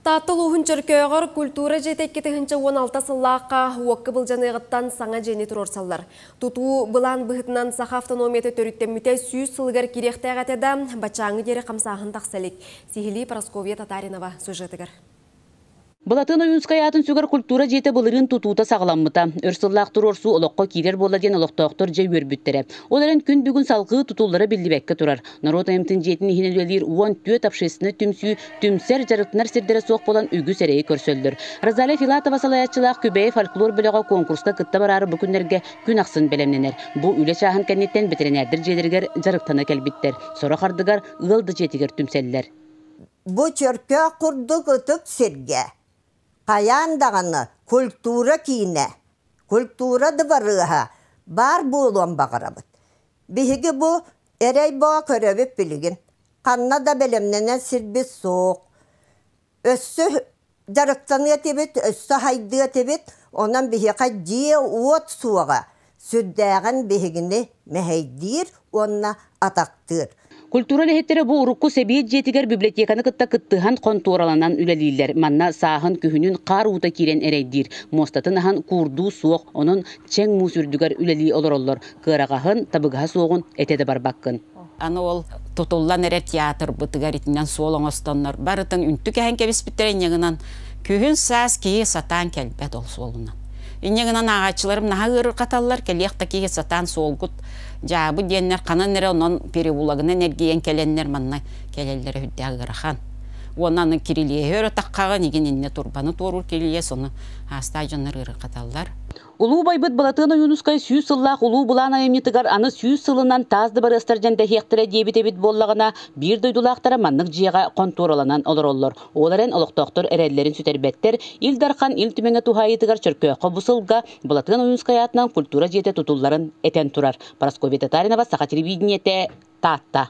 Таатта улууһун Чөркөөҕөр культура дьиэтэ икки тыһыынча уон алта сыллаахха уокка былдьаныаҕыттан саҥа дьиэни туруорсаллар. Тутуу былаан быһыытынан саха автономията төрүттэммитэ сүүс сылыгар кириэхтээх этэ да, баччааҥҥы диэри хамсааһын тахса илик. Сиһилии Прасковья Татаринова сюжетыгар. Былатыан Ойуунскай аатын сүгэр культура дьиэтэ былырыын тутуута саҕаламмыта. Өр сыллаах туруорсуу олоххо киирэр буолла диэн олохтоохтор дьэ үөрбүттэрэ. Ол эрэн күн бүгүн салгыы тутуллара биллибэккэ турар. Норуот айымтын дьиэтин иһин үлэлиир уон түөрт общественнай түмсүү Түмсэр, дьарыктанар сирдэрэ суох буолан үгүс эрэйи көрсөллөр. Розалия Филатова салайааччылаах Күбэйи фольклор бөлөҕө куонкуруска кытта бараары бу күннэргэ күн ахсын бэлэмнэнэр. Бу үлэ чааһын кэнниттэн ветеринардар дьиэлэригэр дьарыктана кэлбиттэр. Сорох ардыгар ыал да дьиэтигэр түмсэллэр. Бу чөркөөх курдук ытык сиргэ хайаан даҕаны культура киинэ, культура дыбарыаһа баар буолуон баҕарабыт. Биһиги бу эрэй-боо көрөбүт билигин ханна да бэлэмнэнэр сирбит суох. Өссө дьарыктаныа этибит, өссө сайдыа этибит, онон биһиэхэ дьиэ-уот суоҕа. Сүрдээҕин биһигини мэһэйдиир уонна атахтыыр. Культура үлэһиттэрэ бу урукку Сэбиэт дьиэтигэр библиотеканы кытта кыттыһан хонтуораланан үлэлииллэр. Манна сааһын-күһүнүн хаар уута киирэн эрэйдиир. Муостатын аһан куурдуу суох, онон чэҥ муус үрдүгэр үлэлии олороллор. Кыараҕаһын, табыгаһа суоҕун этэ да барбаккын. Аны ол тутуллан эрэр театрбытыгар итинэн суол оҥостоннор барытын үнтү кэһэн кэбиспиттэрэ инньэ гынан күһүн-саас киһи сатаан кэлбэт ол суолунан. Инньэ гынан ааҕааччыларым наһаа ыарырҕаталлар кэлиэх да киһи сатаан суолгут дьаабы диэннэр ханан эрэ онон переулагынан эргийэн кэлэннэр манна кэлэллэрэ үрдээх ыарахан. Уонна аны кирилиэһи өр атаххаҕын игин иннэ турбаны туоруур кирилиэс ону аастаах дьоннор ыарырҕаталлар. Улуу байбыт Былатыан Ойуунускай сүүс сыллаах улуу былаан айымньытыгар аны сүүс сылынан таас дыбарыастар дьэндэһиэхтэрэ диэбит эбит буоллаҕына, биир дойдулаахтара маннык дьиэҕэ хонтуораланан олороллор. Ол эрэн олохтоохтор эрэллэрин сүтэрбэттэр. Ил Дархан Ил Түмэҥэ туһаайыытыгар Чөркөөххө бу сылга Былатыан Ойуунускай аатынан культура дьиэтэ тутулларын этэн турар. Парасковья Татаринова, Саха телевидениете, Таатта.